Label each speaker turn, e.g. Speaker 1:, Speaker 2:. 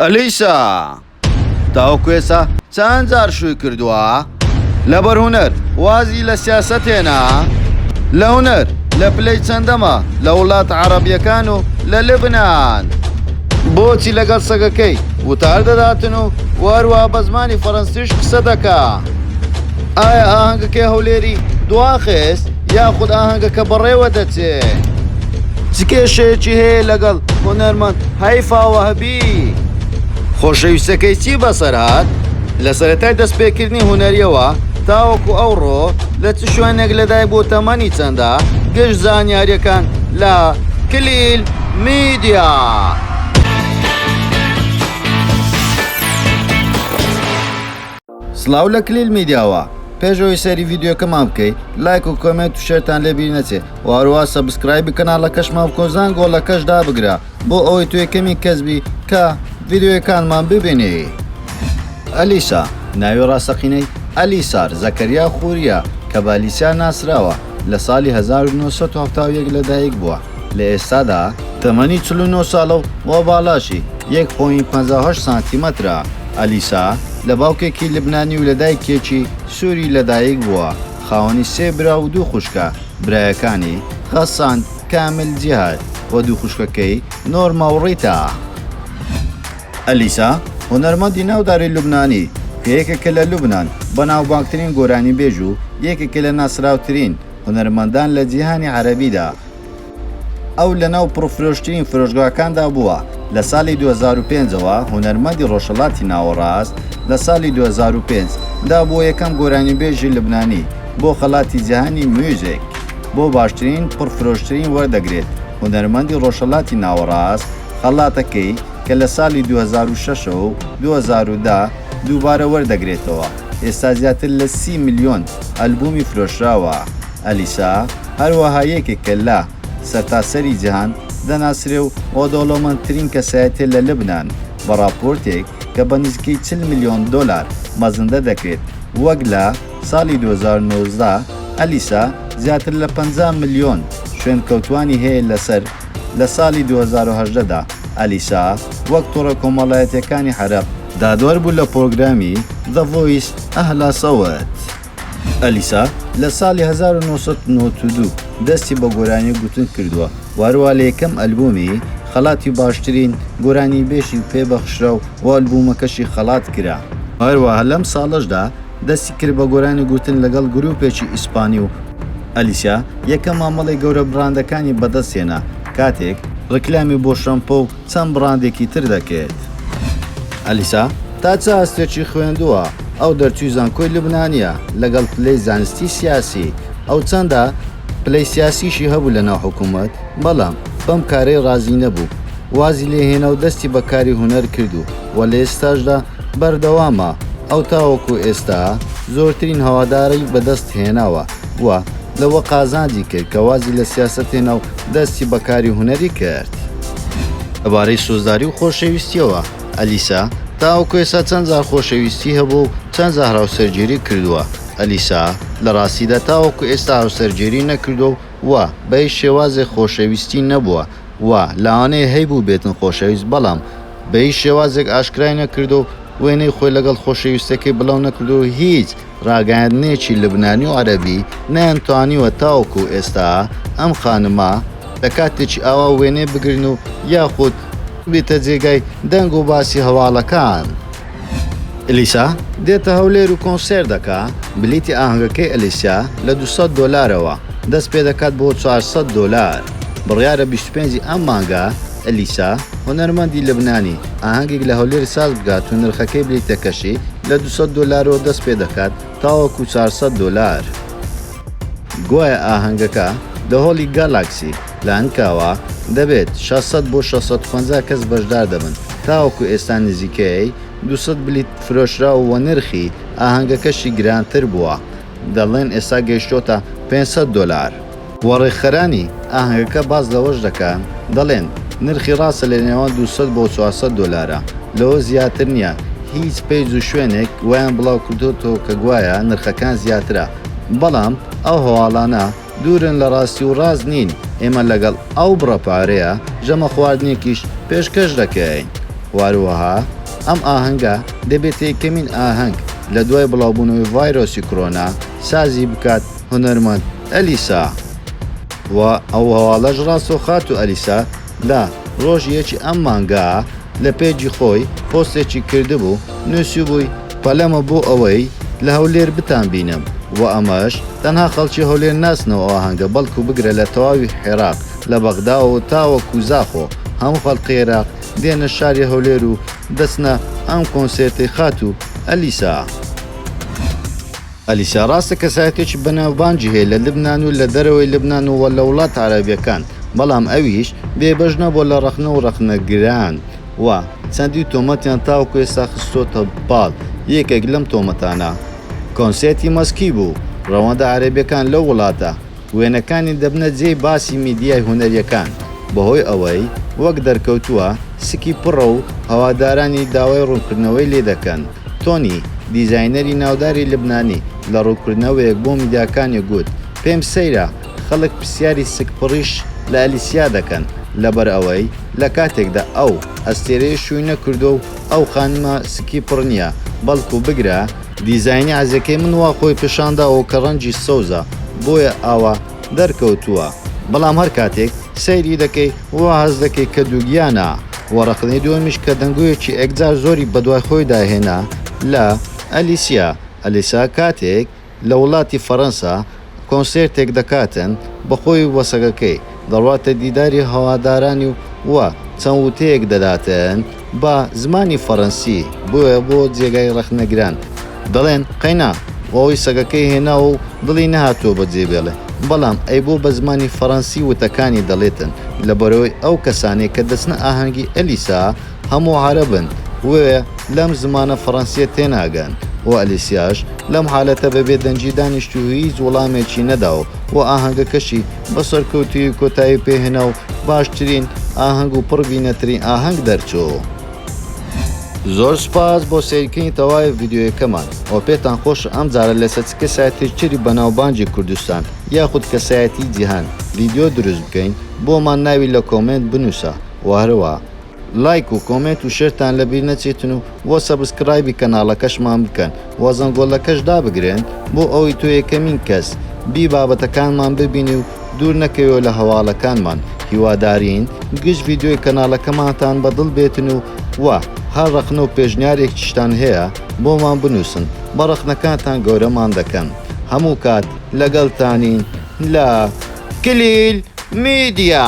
Speaker 1: ئەلیسا تاوەکو ئێستا چەند جار شووی کردووە لەبەر هونەر وازی لە سیاسەت هێنا لە هونەر لە پلەی چەندەمە لە وڵاتە عەڕەبییەکان و لە لبنان بۆچی لەگەڵ سەگەکەی وتار دەداتن و وەروە بە زمانی فەرەنسیش قسە دەکا ئایا ئاهەنگەکەی هەولێری دواخست؟ یاخود ئاهەنگەکە بەڕێوە دەچێ چ کێشەیەکی هەیە لەگەڵ هونەرمەند هەیفاوە هەبی خۆشەویستەکەی چی بەسەر هاات لە سەرەتای دەستپێکردنی هونەریەوە تاوەکو ئەوڕۆ لە چ شوێنێک لەدای بۆ تەمەنی چەندە گەشت زانیاریەکان لە کلیل میدیا. سڵاو لە کلیل میدیاوە. پێش ئەوەی سەیری ڤیدیۆکەمان بکەی لایک و کۆمێنت و شێرتان لێ بیر نەچێ و هەروەها سەبسکرایبی کەناڵەکەشمان بکە و زانگۆڵەکەش دابگرە بۆ ئەوەی تۆ یەکەمین کەس بی کە ڤیدیۆیەکانمان ببینی. ئەلیسا، ناوی ڕاستەقینەی، ئەلیسار زەکەریا خورییە، کە بە ئەلیسیا ناسراوە، لە ساڵی هەزار و نۆ سەد و حەفتا و یەک لەدایکبووە، لە ئێستادا تەمەنی چل و نۆ ساڵە و وا باڵاشی یەک پۆینت پەنجا و هەشت سانتیمەترە، ئەلیسا لە باوکێکی لبنانی و لە دایکێکی سووری لەدایک بووە، خاوەنی سێ برا و دوو خوشکە، برایەکانی، غەسان، کامیل، جیهاد، و دوو خوشکەکەی، نۆرما و ڕیتا. ئەلیسا هونەرمەندی ناوداری لوبنانی کە یەکێکە لە لوبنان بەناوبانگترین گۆرانیبێژ و یەکێکە لە ناسراوترین، هونەرمەندان لە جیهانی عەرەبیدا. ئەو لەناو پڕفرۆشترین فرۆشگاکاندا بووە، لە ساڵی دوو هەزار و پێنج ەوە هونەرمەندی ڕۆژهەڵاتی ناوەڕاست، لە ساڵی دوو هەزار و پێنج دا بووە یەکەم گۆرانیبێژی لوبنانی بۆ خەڵاتی جیهانی میوزیک بۆ باشترین پڕفرۆشترین وەردەگرێت هونەرمەندی ڕۆژهەڵاتی ناوەڕاست خەڵاتەکەی کە لە ساڵی دوو هەزار و شەش و دوو هەزار و دە دووبارە وەردەگرێتەوە. ئێستا زیاتر لە سی ملیۆن ئەلبوومی فرۆشراوە. ئەلیسا هەروەها یەکێکە لە سەرتاسەری جیهان دەناسرێ و ۆدەوڵەمەندترین کەسایەتیە لە لبنان بە ڕاپۆرتێک کە بە نزیکەی چل ملیۆن دۆلار مەزندە دەکرێت وەک لە ساڵی دوو هەزار و نۆزدە ئەلیسا زیاتر لە پەنجا ملیۆن شوێنکەوتوانی هەیە لەسەر لە ساڵی دوو هەزار و هەژدە دا ئەلیسا وەک تۆڕە کۆمەڵایەتیەکانی عەرەب دادوەر بوو لە پرۆگرامی، The Voice، ئه لا سەوت. ئەلیسا لە ساڵی هەزار و نۆ سەد و نەوەد و دوو دەستی بە گۆرانی گوتن کردووە و هەروا لە یەکەم ئەلبوومی، خەڵاتی باشترین گۆرانیبێژی پێ بەخشرا و بۆ ئەلبوومەکەشی خەڵات کرا. هەروەها لەم ساڵەشدا دەستی کرد بە گۆرانی گوتن لەگەڵ گرووپێکی ئیسپانی و ئەلیسا یەکەم مامەڵەی گەورە براندەکانی بەدەست هێنا کاتێک ڕیکلامی بۆ شەمپۆ و چەند بڕاندێکی تر دەکەێت. ئەلیسا تا چ ئاستێکی خوێندووە؟ ئەو دەرچووی زانکۆی لوبنانییە لەگەڵ پلەی زانستی سیاسی. ئەو چەندە؟ پلەی سیاسیشی هەبوو لە ناو حکوومەت، بەڵام بەم کارەی ڕازی نەبوو. وازی لێ هێنا و دەستی بە کاری هونەر کرد و وە لە ئێستاشدا بەردەوامە. ئەو تاوەکوو ئێستا زۆرترین هەواداری بە دەست هێناوە. و لەوە قازانجی کرد کە وازی لە سیاسەت هێنا و دەستی بە کاری هونەری کرد. لەبارەی سۆزداری و خۆشەویستییەوە، ئەلیسا، تاوەکو ئێستا چەند جار خۆشەویستی هەبووە و چەند جار هاوسەرگیری کردووە، ئەلیسا، لە ڕاستیدا تاوەکو ئێستا هاوسەرگیری نەکردووە و و بە هیچ شێوازێک خۆشەویستی نەبووە و لەوانەیە هەیبووبێتن خۆشەویست بەڵام بە هیچ شێوازێک ئاشکرای نەکردووە و وێنەی خۆی لەگەڵ خۆشەویستەکەی بڵاو نەکردووە و هیچ ڕاگەیاندنێکی لوبنانی و عەرەبی نەیانتوانیوە تاوەکو ئێستا ئەم خانمە لە کاتێکی ئاوا وێنەی بگرن و یاخود ببێتە جێگای دەنگ و باسی هەواڵەکان. ئەلیسا دێتە هەولێر و کۆنسێرت دەکا، بلیتی ئاهەنگەکەی ئەلیسا لە دوو سەد دۆلارەوە دەست پێدەکات بۆ چوار سەد دۆلار، بڕیارە بیست و پێنج ی ئەم مانگە، ئەلیسا، هونەرمەندی لبنانی، ئاهەنگێک لە هەولێر ساز بکات و نرخەکەی بلیتەکەشی لە دوو سەد دۆلارەوە دەست پێ دەکات تاوەکو چوار سەد دۆلار. گوایە ئاهەنگەکە لە هۆڵی گالاکسی، لانکاوا، دەبێت، شەش سەد بۆ شەش سەد و پەنجا کەس بەشدار دەبن، تاوەکو ئێستا نزیکەی دوو سەد بلیت فرۆشراو و نرخی ئاهەنگەکەشی گرانتر بووە، دەڵێن ئێستا گەیشتۆتە پێنج سەد دۆلار. و ڕێکخەرانی ئاهەنگەکە باس لەوەش دەکەن، دەڵێن، نرخی ڕاستە لە نێوان دوو سەد بۆ چوار سەد دۆلارە، لەوە زیاتر نییە، هیچ پەیج و شوێنێک وایان بڵاوکردۆتەوە کە گوایە نرخەکان زیاترە، بەڵام ئەو هەواڵانە دوورن لە ڕاستی و ڕاست نین، ئێمە لەگەڵ ئەو بڕە پارەیە ژەمە خواردنێکیش پێشکەش دەکەین، واروەها ئەم ئاهەنگە دەبێتە یەکەمین ئاهەنگ لە دوای بڵاوبوونەوەی ڤایرۆسی کرۆنا سازی بکات هونەرمەند. ئەلیسا و ئەو هەواڵەش ڕاستەوخاتوو ئەلیسا لە ڕۆژی یەکی ئەم مانگە لە پەیجی خۆی پۆستێکی کردبوو نوسیوبووی پەلەمە بۆ ئەوەی لە هەولێر بتانبینم و ئەمەش تەنها خەڵکی هەولێر ناسنەوە ئەو ئاهەنگە بەڵکو بگرە لە تەواوی حێراق لە بەغداوەو تاوەکو زاخۆ هەموو خەڵقی عێراق دێنە شاری هەولێر و دەچنە ئەم کۆنسێرتەی خاتوو ئەلیسا. ئەلیسا، ڕاستە کەسایەتێکی بەناوبانگی هەیە لە لبنان و لە دەرەوەی لبنان و لە وڵاتە عەرەبیەکان، بەڵام ئەویش بێبەش نەبووە لە ڕەخنە و ڕەخنەگران و چەندین تۆمەتیان تاوەکو ئێستا خستۆتە پاڵ، یەکێک لەم تۆمەتانە کۆنسێرتی مەسکی بوو، ڕەوەندە عەرەبیەکان لەو وڵاتە، وێنەکانی دەبنە جێی باسی میدیای هونەرییەکان بەهۆی ئەوەی وەک دەرکەوتووە سکی پڕە و هەوادارانی داوای ڕوونکردنەوەی لێ دەکەن، تۆنی، دیزاینەری ناوداری لبنانی لە ڕوونکردنەوەیەک بۆ میدیاکانی گوت، پێم سەیرە خەڵک پرسیاری سک پڕیش لە ئەلیسیا دەکەن لەبەر ئەوەی لە کاتێکدا ئەو ئەستێرەیە شووی نەکردووە و ئەو خانمە سکی پڕ نییە بەڵکو بگرە دیزاینی عەزێکەی من وا خۆی پیشان داوە کە ڕەنجی سەوزە بۆیە ئاوا دەرکەوتووە بەڵام هەر کاتێک سەیری دەکەی وا هەست دەکەی کە دووگیانە وە ڕەخنەی دووەمیش کە دەنگۆیەکی ئێکجار زۆری بەدوای خۆیدا هێنا لە ئەلیسیا ئەلیسا کاتێک لە وڵاتی فەرەنسا کۆنسێرتێک دەکاتن بە خۆی و سەگەکەی، دەڕواتە دیداری هەوادارانی و وا چەند وتەیەک دەداتن بە زمانی فەرەنسی، بۆیە بۆ جێگای ڕەخنەگران دەڵێن قەینا و ئەوەی سەگەکەی هێناوە و دڵی نەهاتووە بە جێ بێڵێ، بەڵام ئەی بۆ بە زمانی فەرەنسی وتەکانی دەڵێتن لەبەرئەوەی ئەو کەسانەی کە دەچنە ئاهەنگی ئەلیسا، هەموو عەرەبن وێ لەم زمانە فەڕەنسیە تێناگەن و ئەلیسیاش لەم حالەتە بە بێدەنگی دانیشت و هیچ وڵامێکی نەدا و و ئاهەنگەکەشی بە سەرکەوتوویی کۆتایی پێ هێنا و باشترین ئاهەنگ و پڕ بینەترین ئاهەنگ دەرچوو. زۆر سوپاس بۆ سەیرکردنی تەواوی ڤیدیۆیەکەمان و پێتان خۆشە ئەم جارە لەسەر چ کەسایەتییەکی بەناوبانگی کوردستان یاخود کەسایەتیی جیهان ڤیدیۆ دروست بکەین بۆمان ناوی لە کۆمێنت بنووسە و هەروەها لایک و کۆمێنت و شێرتان لەبیر نەچێتن و وە سەبسکرایبی کەناڵەکەشمان بکەن وە زەنگۆلەکەش دابگرێن بۆ ئەوەی تۆ یەکەمین کەس بی بابەتەکانمان ببینی و دوور نەکەویەوە لە هەواڵەکانمان هیوادارین گشت ڤیدیۆی کەناڵەکەمانتان بە دڵ بێتن و وە هەر ڕەخنە و پێشنیارێکیشتان هەیە بۆمان بنووسن بە ڕەخنەکانتان گەورەمان دەکەن هەموو کات لەگەڵتانین لە کلیل میدیا.